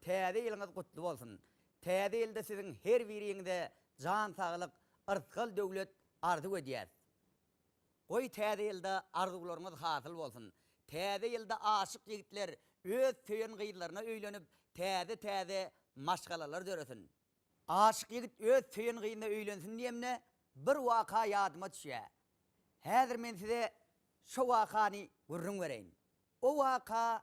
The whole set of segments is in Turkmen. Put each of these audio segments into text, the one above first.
Täze ýylyňyz gutly bolsun! Täze ýylda siziň her biriňize jan saglyk, yrsgal döwlet arzuw edýäs! Goý täze ýylda arzuwlaryňyz hasyl bolsun! Täze ýylda aşyk ýigitler öz söýen gyzlaryna öýlenip, täze täze maşgalalar döresin! Aşyk ýigit öz söýen gyzyna öýlensin diýemde bir waka ýadyma düşýä. Häzir men size şo wakany gürrüň bereýin. O waka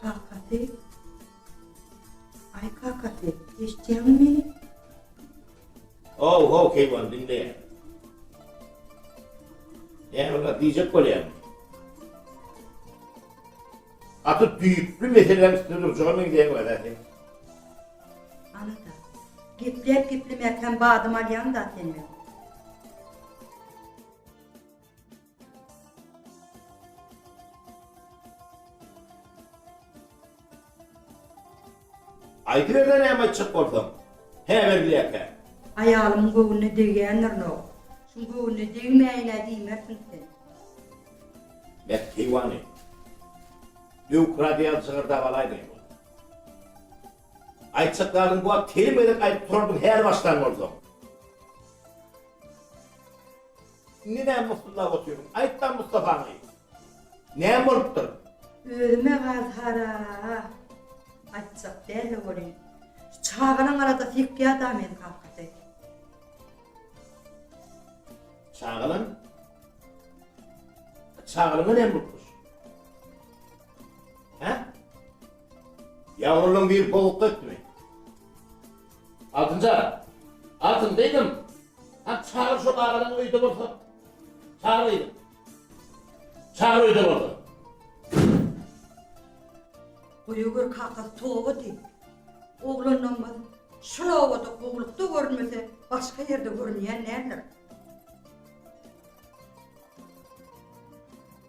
Kakasy, Aý kakasy, eşitýäňmi meni? Haw-haw keýwan, diňleýän. Näme bar, diýjek bolýaňmy? Gaty düýpli meseläň üstünde durjaga meňzeýäň wada sen. Anada, gepläp-geplemäkäm badam alýaň-da sen men. Aýdyberle näme aýtjak bolsaň. Hä Berdiýäkä. Aýalymyň göwnüne degýändirinok. Şum göwnüne degmäýin-ä diýmersiň sen. Mert heýwany. Döwük radýa jygyrdap alaýmaýyn ony. Aýtjak zadym bu wagt telim gezek aýdyp turardym häli başdan bolsaň. Indi näme myssillap otyryň. Aýtda Mustafaňy. Näme bolupdyr? Özüme gaz hara. Aýtjak däl-le welin. Şu çagalaň arada sypýa-da meni kakasy. Çagalaň? Çagalaňa näme bolupmyş? Hä? Ýagulyň biri boguk ötdümi? Altynjan, Altyn gyzym, hany çagyr şol agalaň öýde bolsa. Çagyr gyzym. Çagyr öýde bolsa. Goýa gör kakasy toba diýip. Oglanlarymyz şol obada gowlukda görünmese, başga ýerde görünýän däldir.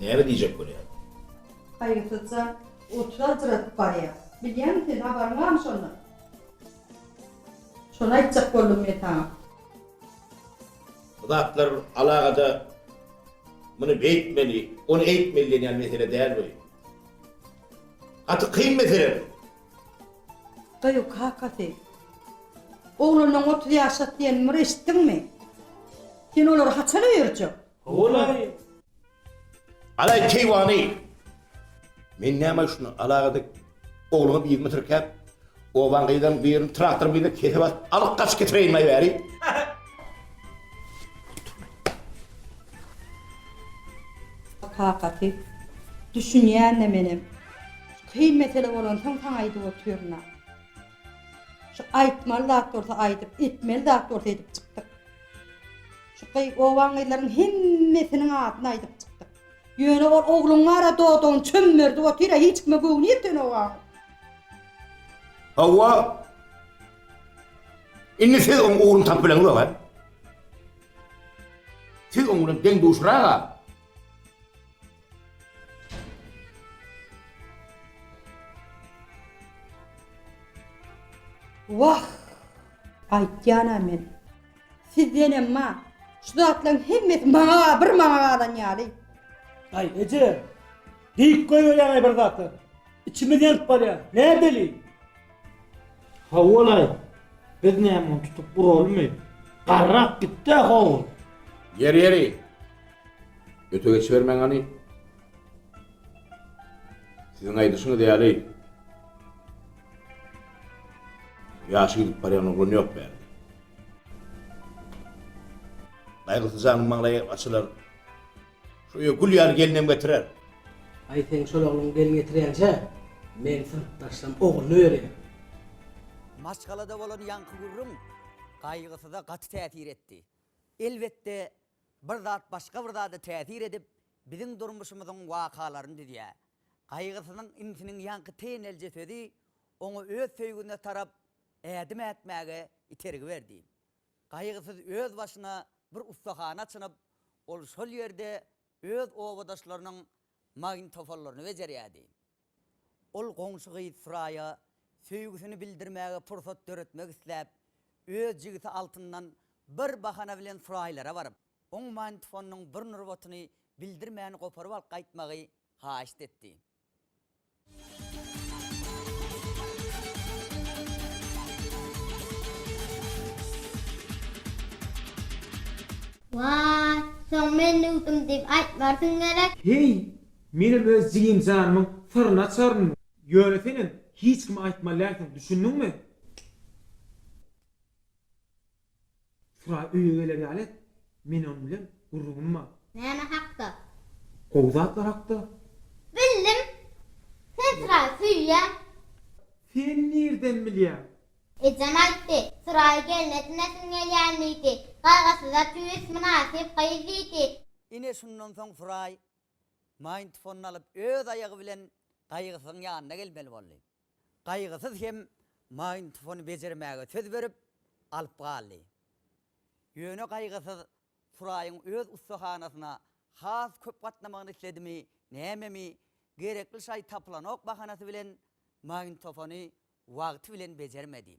Näme diýjek bolýar? Haýgysyzja oturajradyp barýar. Bilýäňmi sen, habaryň barmy şondan? Şony aýtjak boldum men saňa. Bu zatlar alagada muny beýtmeli, ony eýtmeli diýen ýaly mesele däl bu. Gaty kyn mesele bu. Daýaw kakasy. Oglanyň otuz ýaşat diýenini bir eşitdiňmi? Sen olary haçan öýerjek? Howalaý! Alaý keýwany! Men näme üçin alagada ogluňy bir ýüzüme tirkäp, obaň gyzlarynyň birini traktoryň birine kesip alyp, alyp gaçyp getireýin maý bäri? Kakasy, düşünýän-de menem. Şu kyn mesele bolansoň saňa aýdyp otyryn-a. Şu aýtmaly zat bolsa aýdyp, etmeli zat bolsa edip çykdyk. Şu gyz obaň gyzlaryň hemmesiniň adyny aýdyp çykdyk. Ýöne ol ogluň gara dodagyny çömmerdip otyr-a, hiç kime göwni ýeten obaň. Hawa. Indi siz oň ugruny tapyp bileňiz oba. Siz oň bilen deň-duşrak-a. Wah! Aýtýan-a men. Sizden emma, şu zatlaryň hemmesi maňa bir mana galan ýaly. Aý, eje! Diýip goýberýäň-aý bir zatlar. Içimiz ýanyp barýar. Nädeli? Hawa-laý, biz näme ony tutup uralymy? Garrap gitdi-ä howul. Ýeri-ýeri. Öte geçibermäň hany. Siziň aýdyşyňyz ýaly, ýaşy gidip barýan oglan ýok bärde. Gaýgysy janyň maňlaýy açylar. Şu öýe gül ýaly gelinem getirer. Aý, seň şol ogluň gelin getirýänçä, meň synpdaşlam ogluny berýär. Maşgalada bolan ýaňky gürrüň Gaýgysyza gaty täsir etdi. Elbetde, Bir zat başga bir zada täsir edip, biziň durmuşymyzyň wakalaryny düzýär. Gaýgysynyň inisiniň ýaňky tenelje sözi oňa öz söýgüsine tarap ädim ätmäge itergi berdi. Gaýgysyz öz başyna bir ussahana açynyp, ol şol ýerde öz obadaşlarynyň magnitofonlaryny bejerýärdi. Ol goňşy gyz Suraýa söýgüsini bildirmäge pursat döretmek isläp, öz jigisi Altyndan bir bahana bilen Suraýlara baryp, oň magnitofonynyň bir nurbatyny bildirmän goparyp alyp gaýtmagy haýyşt etdi. Waý, soň men döwdüm diýip aýtmarsyň gerek? Heý, Menem öz jigim janymyň syryny açaryn, ýöne senem hiç kime aýtmaly dälsiň, düşündiňmi? Suraý öýe geler ýaly et, men onuň bilen gürrüňim bar. Näme hakda? Gowy zatlar hakda. Bildim. Sen Suraýy söýýäň. Sen nirden bilýäň? Ejem aýtdy. Suraýy gelin edinesiň gelýän diýdi. Gaýgysyza tüýs, mynasyp gyz diýdi. Ine şundan soň Suraý Maýntfonyny alyp öz aýagy bilen gaýgysyzyň ýanyna gelmeli boldy. Gaýgysyz hem maýntfony bejermäge söz berip, alyp galdy. Ýöne gaýgysyz Suraýyň öz ussahanasyna has köp gatnamagyny isledimi, nämemi, gerekli şaý tapylanok bahanasy bilen maýntofony wagty bilen bejermedi.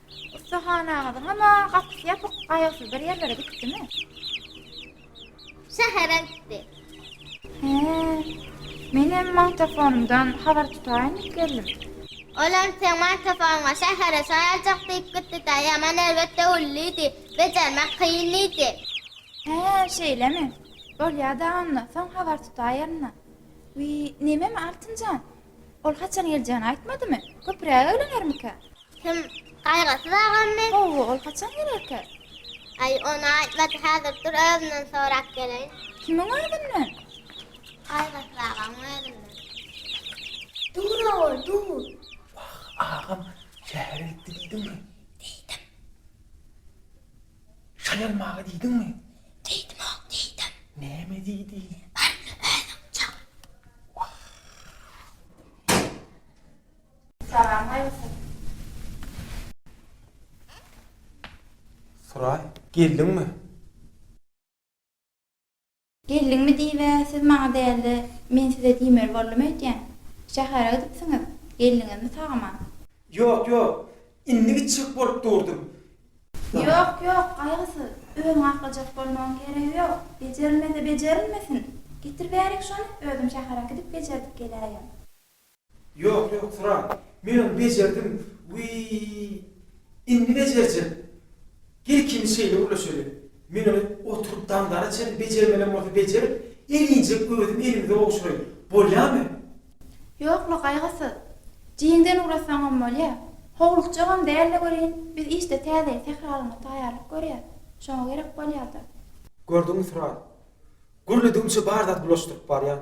Ussahanaňyzyň ama gapysy ýapyk, gaýgysyz bir ýerlere gitdimi? Şähere gitdi. He. Menem magtafonymdan habar tutaýyn diýip geldim. Olam seň magtafonyňa şähere şaýaljak diýip gitdi-dä, ýaman erbet döwüldi-di, bejermek kyn diýdi. He, şeýlemi? Bolýa-da onda, soň habar tutaýeryn-a. Wiý, nememi Altynjan, Ol haçan geljegini aýtmadymy? Köpüräk eglenermikä? Kim? Gaýgysyz agammy? Hawa, ol haçan gelerkä? Aý, ony aýtmady, häzir dur özünden sorap geleýin. Kimiň özünden? Gaýgysyz agaň özünden. Dur ogul, dur. Wah, agam şähere gitdi diýdiňmi? Diýdim. Şaýalmaga diýdiňmi? Diýdimok, diýdim. Näme diýdiň? Baryny özüň çal. Wah! Salam aýolsyn. Suraý, geldiňmi? Geldiňmi diýib-ä siz maňa däl-de, men size diýmeli boldum öýtýän. Şähere gidipsiňiz, geldiňizmi sag-aman? Ýok, ýok. Indi gitjek bolup durdum. Ýok, ýok, gaýgysyz. Özüňi aklajak bolmagyň keregi ýok. Bejerilmese bejerilmesin. Getir bärik şony, özüm şähere gidip bejerdip geläýen. Ýok, ýok, Turan. Men ony bejerdim. Wiý, indi bejerjek. Gel ikimiz şeýle gürleşeli. Men ony oturyp daňdana çenli bejermelem bolsa bejerip, elinjek özüm elimize gowşuraýyn. Bolýamy? Ýokla, gaýgysyz. Jiňden ugrasaňam bolýa. Howlukjagam däl-le welin, biz işde täzeýin sähralanyňa taýýarlyk görýäs. Şoňa gerek bolýar-da. Gördüňmi, Turan. Gürledigiňçe bar zat bulaşdyryp barýaň.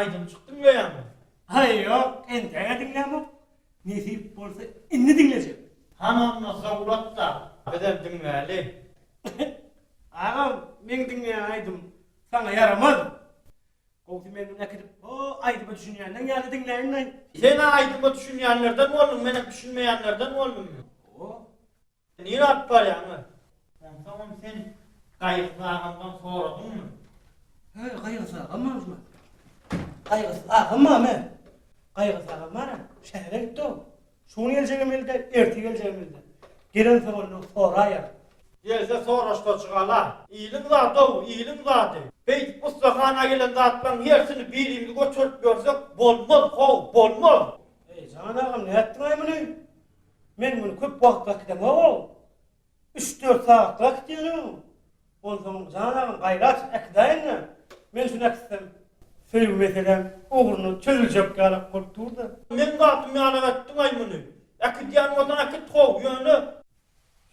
Aýdym çykdy bu ýaňy. Haý ýok, entäge diňlämok. Nesip bolsa indi diňlejek. Hamama sowgat dal. Bizem diňläli. Agam, meň diňleýän aýdymym saňa ýaramaz. Gowsy men muny äkidip ho aýdyma düşünýänleň ýaly diňläýinleý. Sen-ä aýdyma düşünýänlerden bolduň, menem düşünmeýänlerden boldum. Ho. Nirä alyp barýaň öý? Onsoňam sen Gaýgysyz agamdan soradyňmy? Hä, Gaýgysyz agam bolupmy? Gaýgysyz agam bamy? Gaýgysyz agam bara, şähere gitdi-ow. Şu gün geljegimizi-de, erte geljegimizi-de gelen söwünlik soraýar. Gelse soraşsa çygalar. Iliň zady-ow, iliň zady. Beýdip ussahana gelen zatlaryň hersini birimiz göterip ýörsek, bolmaz, how, bolmaz! Eý, jan agam, nätdiň-aý muny? Men muny köp wagtlap gidemog-ow! Üç-dört sagatlyga gitýäniňmi? Onsoň, jan agam, gaýrat äkidaýyn-da. Men şuny äkitsem, söýgi meselem ugruna çözüljek ýaly bolup dur-da. Meň zatym ýalam äkitdiň-aý muny. Äkidýän bolsaň äkit how, ýöne.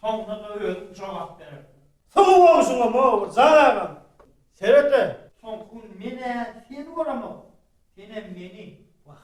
Soňra-da özüň jogap berersiň. Soňy bolşuňam-ow, bir jan agam. Seret-ä! Soňky gün men-ä seni göremok, senem meni. Wah,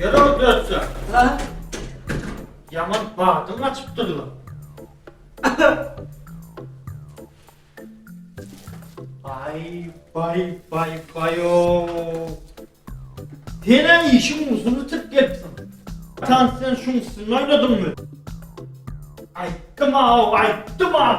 Ýere-ow dörtse. Ha? Ýaman badyň açypdyr-la. Baý, baý, baý, baý-ow. Sen-ä işiň uzuny bitirip gelipsiň. Tans sen şuň üstünde oýnadyňmy? Aýtdym-aw, aýtdym-aw.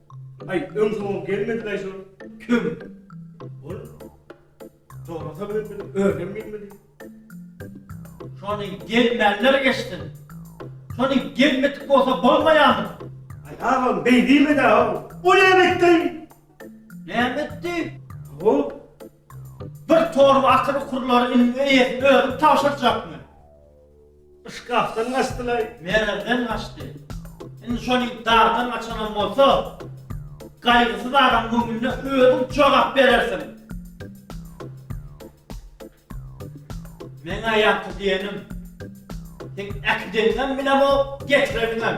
Aý öň soňam gelmedilaý şol köm ol sorasa bilemdimi özem gelmedi. Şony gelmänler geçsin. Şony gelmedik bolsa bolmaýamy. Aý agam beý diýmedä o. O näme etdi? Näme etdi? Sow Bir torba atyr ukurlary iniň eýesine özüni tabşyrjakmy? Yşkakdan gaçdylaý. Mererden gaçdy. Indi şonuň dardan gaçanam bolsa, gaýgysyz adam göwnüne özüň jogap berersiň. Meň-ä ýaňky diýenim, seň äkideniňem bilemok, getireniňem.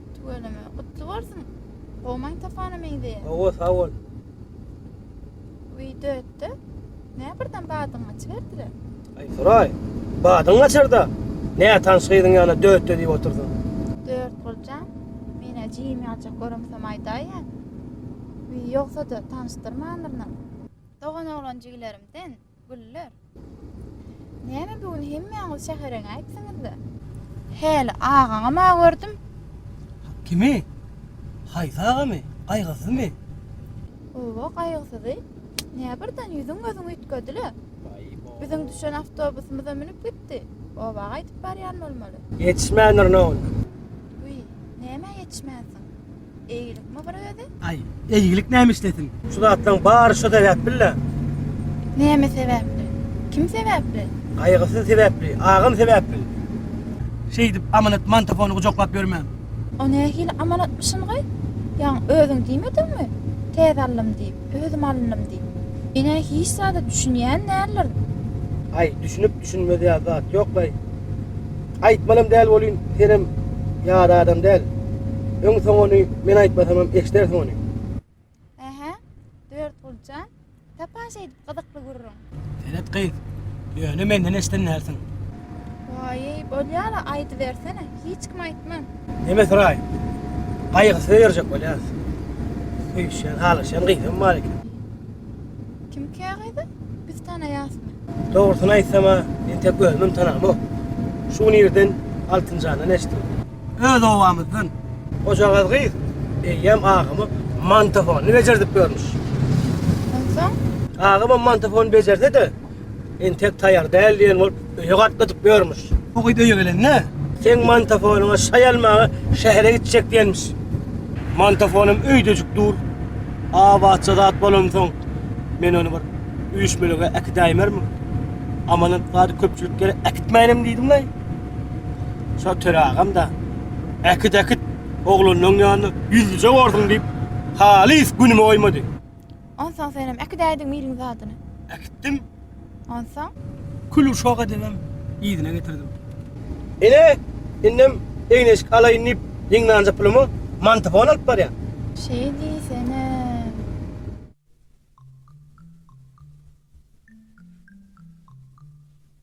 Tüweleme. Gutly bolsun. Gowmaň tapana meňzeýär. Hawa sag bol. Wideo etde. Nä birden badyň açyberdiler. Aý Suray. Badyň açarda. Nätanyş gyzyň ýanyna dötde diýip otyrsyň. Dörtguljan. Menä jigim ýaljak göremsem aýdaýýa. Ýogsada tanyşdyrmandyryn. Dogan oglan jigilerimden. Güller. Näme bu gün hemmäňiz şähereňäýipsiňiz-le? Häli agaňam-a gördüm. Kimi? Haýsy agamy? Gaýgysyzmy? Oba gaýgysyzy. Nä birden ýüzüň-gözüň üýtgedi-le? Biziň düşen awtobusymyza münüp gitdi. Oba gaýdyp barýan bolmaly. Ýetişmändirin ogul. Wiý, nämä ýetişmänsiň? Eýgilik mi bir özi? Aý, eýgilik näme işlesin? Şu zatlaryň bary şo sebäpli-le. Näme sebäpli? Kim sebäpli? Gaýgysy sebäpli, agam sebäpli. Şeýdip, Amanat mantofony gujaklap ýörmän. O nähili amanatmyşyn-gy? Ýaňy özüň diýmediňmi, täze aldym diýip? özüm alynnym diýip. Ine, hiç zada düşünýän däldirin. Aý, düşünip-düşünmez ýaly zat ýok-laý. Aýtmalam däl welin, senem ýada adam däl. Öň-soň ony men aýtmasamam eşdersiň ony. Hä-hä, Dörtguly jan, tapaş eýdip gyzykly gürrüň. Senet gyz, ýöne menden eşden dälsiň. Waýy, bolýar-a, aýdybersene, hiç kime aýtman. Neme syraý, gaýgysyz ýörjek bolýas. Söýüşýän, halaşýan gyzam bar eken. Kimkä gyzy? Biz tanaýasmy? Dogrusyny aýtsam-a, men tek özümem tanamok. Şu gün irden Altynjandan eştdim. öz obamyzdan. Hojagaz gyz eýýäm agama mantofony bejerdip görmüş. Onsoň? Agama mantofony bejerde-de, entek taýar däl diýen bolup, öýe gatnadyp ýörmüş. Bu gyz öýe gelende, seň mantofonyňa şaý almaga şähere gitjek diýenmiş. Mantofonym öýdejik dur. Abatja zat bolansoň, men ony bir üýşmelige äkidäýmermiň? Amanat zady köpçülik ýere äkitmänem diýdim-le. Şol Töre agam-da, Äkit, äkit, oglanyň ýanyna ýüzlüje borsuň diýip, halys günümi goýmady. Onsoň senem äkidäýdiň miliň zadyny. Äkitdim. Onsoň? Kül uşak edibem yzyna getirdim. Ine, indem egin-eşik alaýyn diýip ýygnanja pulumy mantofon alyp barýan. Şeý diýsenem.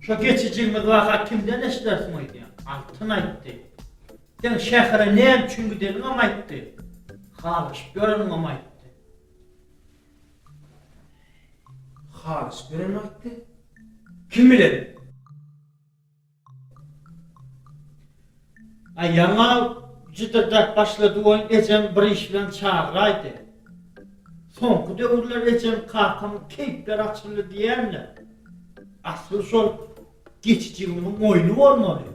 Şo geçijigimiz waka kimden eşdersiň öýdýäň? Altyn aýtdy. Seň şähere näme üçin gideniňem aýtdy. Halaşyp ýöreniňem aýtdy. Halaşyp ýörenimi aýtdy? Kim bilen? Aý, ýaňy jydyrdap başlady welin ejem bir iş bilen çagyraýdy. Soňky döwürler ejem kakamyň keýpleri açyldy diýýänler. Asyl şol geçi jigimiň oýny bolmaly.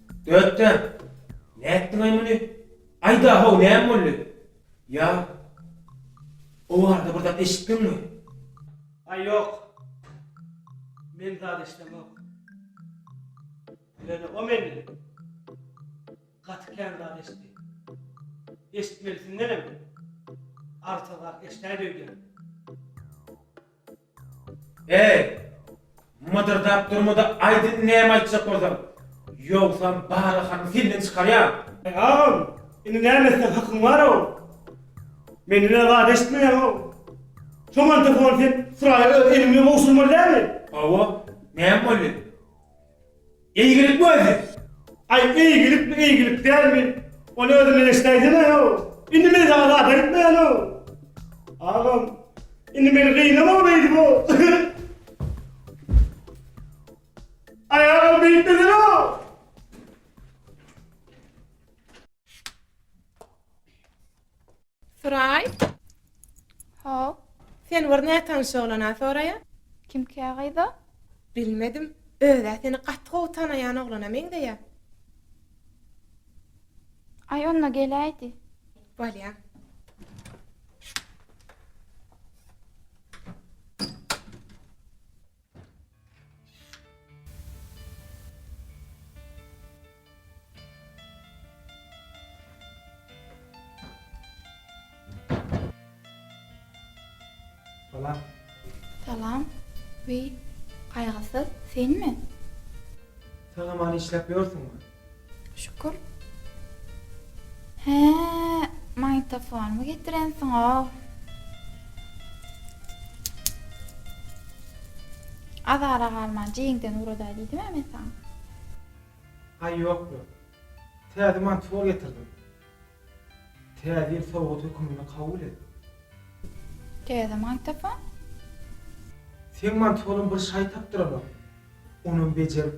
Dötdem, Nätdiňaý muny? Aýda-how, näme boldy? Ýa, o barada bir zat eşitdiňmi? Aý, ýok. Men zat eşidemok. Ýöne o menden gaty kän zat eşitdi. Eşitmelisindenem artygrak eşidäýdi öýdýän. Eý, mydyrdap durma-da aýdyn näme aýtjak bolsaň. Ýogsam barahany senden çykarýan. Eý, agam, indi näme etseň hakyň bar-ow. Menden-ä zat eşitmeýäň-ow. Şo magnitofony sen Suraýa öz eliň bilen gowşurmaly dälmi? Hawa, näme boldy? Eýgilikmi özi? Aý, eýgilikmi, eýgilik dälmi? Ony özünden eşidäýsene-ow! Indi men saňa zat aýtmaýan-ow! Agam, indi meni gynama beýdip-ow! Aý, agam, beýtmesene-ow! Suraý. Hop. Sen bir nätanyş oglana soraýa. Kimkä gyza? Bilmedim. Özä seni gaty gowy tanaýan oglana meňzeýä. Aý onda geläýdi. Bolýa. Salam. Salam. Wiý, Gaýgysyz, senmi? Saňa many işläp ýörsüňmi? Şükür. Hä, magnitofonymy getirensiň-ow. Azara galman jeňden ugradaý diýdim-ä men saňa. Aý ýokmy. Täze magnitofon getirdim. Täze ýyl sowgat höküminde kabul et. Täze magnitofon? Seň magnitofonuň bir şaý tapdyranok. Onam bejerip.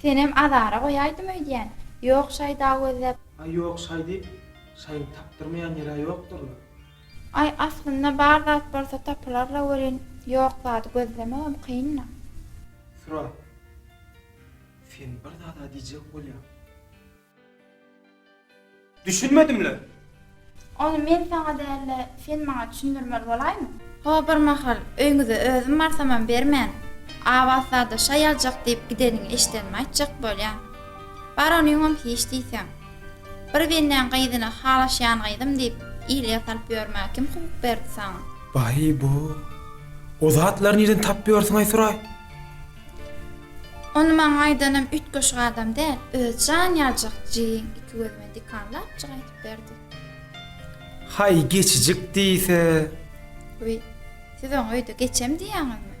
Senem azara goýaýdym öýdýän. Ýok şaý dag gözläp. Aý ýok şaý diýip şaýyň tapdyrmaýan ýerä ýokdyrla. Aý aslynda bar zat bolsa tapylarla welin ýok zady gözlemegem kynla. Sura. Sen bir zada diýjek bolýaň. Düşünmedimle. Ony men saňa däl-de, sen maňa düşündirmeli bolaýmy? Ho, bir mahal öýňüze özüm barsamam bermän, Abatzada şaý aljak diýip gideniňi eşidenimi aýtjak bolýaň. Bar onyňam hiç diýseň. Bir bendäň gyzyna halaşýan gyzym diýip, ilýe salyp ýörmäge kim hukuk berdi saňa? Baý-bo! O zatlary nirden tapyp ýörsüň-aý Suraý? Ony maňa aýdanam üýtgeşik adam däl, öz jan ýaljak jigiň iki gözüme dikanlapjyk aýdyp berdi. Haý, geçijik diýse? Wiý, siz oňa öýde geçem diýýäňizmi?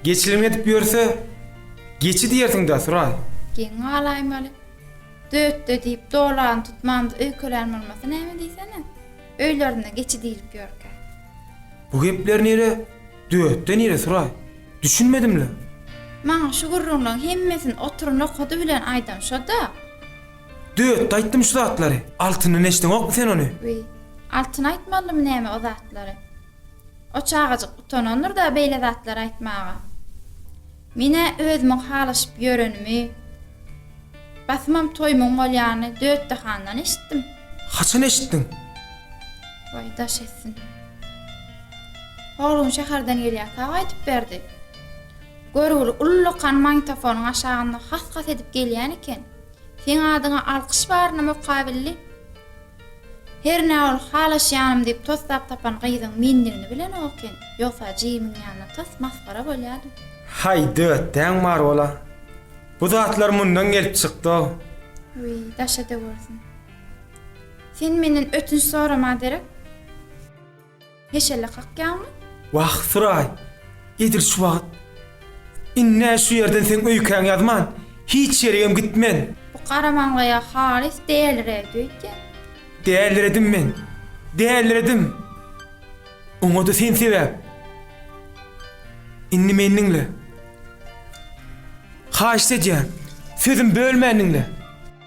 Geçilim edip ýörse, geçi diýersiň-dä, Suraý. Geň galaýmaly. Dötde diýip, dolagyny tutmamda öýkelän bolmasa näme diýsene? Öýlerinde geçi diýlip ýörkä? Bu gepler nire? Döwetde nire suraý? Düşünmedim-le. Maňa şu gürrüňleň hemmesini otur nokady bilen aýdan şo-da. Döwetde aýtdym şu zatlary. Altyndan eşdeňokmy sen ony? Wiý, Altyn aýtmalymy näme o zatlary? O çagajyk utanandyr-da beýle zatlary aýtmaga. Men-ä özümiň halaşyp ýörenimi, basymam toýumyň bolýanyny Dötdi handan eşitdim. Haçan eşitdiň? Waý, daş etsin. Howlum şäherden gelýär, sag aýdyp berdi. Görgüli ullakan magnitofonyň aşagynda has-has edip gelýän eken. Seň adyňa alkyş baryna mukabilli. Hernä ol halaşýanym diýip toslap tapan gyzyň mendigini bilen oken, ýogsa Jimiň ýanyna tas masgara bolýady. Haý, dötäň bar bol-a. Bu zatlar mundan gelip çykdy-ow. Wiý, daşa döwersin. Sen menden ötünç sorama derek. Heşelle kakýaňmy? Wah, Suraý, edil şu wagt. Indi-ä şu ýerden seň öýkäňi ýazman, hiç ýerigem gitmen. Bu garamaňlaýa halys däliredi öýdýän. Däliredim men, däliredim. Oňa-da sen sebäp. Indi meni diňle. Haýyşt edýän, sözümi bölmän diňle.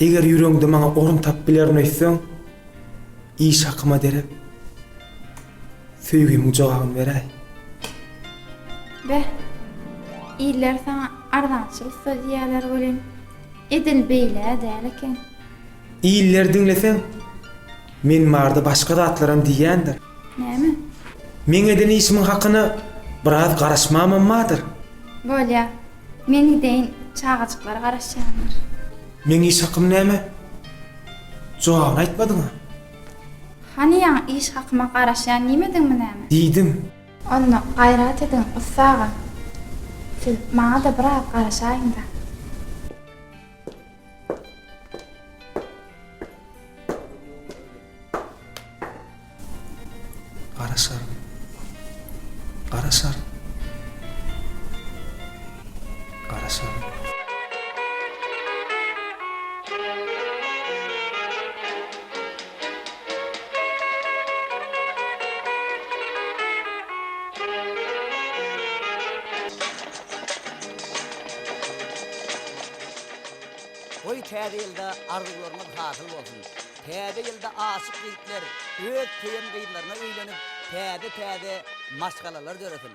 Eger ýüregiňde maňa orun tapyp bilerin öýtseň, iş hakyma derek söýgimiň jogabyny beräý. Beh, iller saňa arzançylyk sözýärler welin, edil beýle-ä däl eken. Illeri diňleseň, men barada başga zatlaram diýýändir. Näme? Meň eden işimiň hakyna biraz garaşmamam bardyr. Bolýar. Men ideýin çagajyklar garaşýandyr. Meň iş hakym näme? Jogabyny aýtmadyňa? Hany ýaňy iş hakyma garaşýan diýmediňmi näme? Diýdim. Onda gaýrat ediň ussa aga. Siz maňada biraz garaşaýyňda. Gara şar. Gara şar. Gara şar. Goý täze ýylda arzuwlarymyz hasyl bolsun. Täze ýylda aşyk ýigitler öz söýen gyzlaryna öýlenip, täze-täze maşgalalar döresin!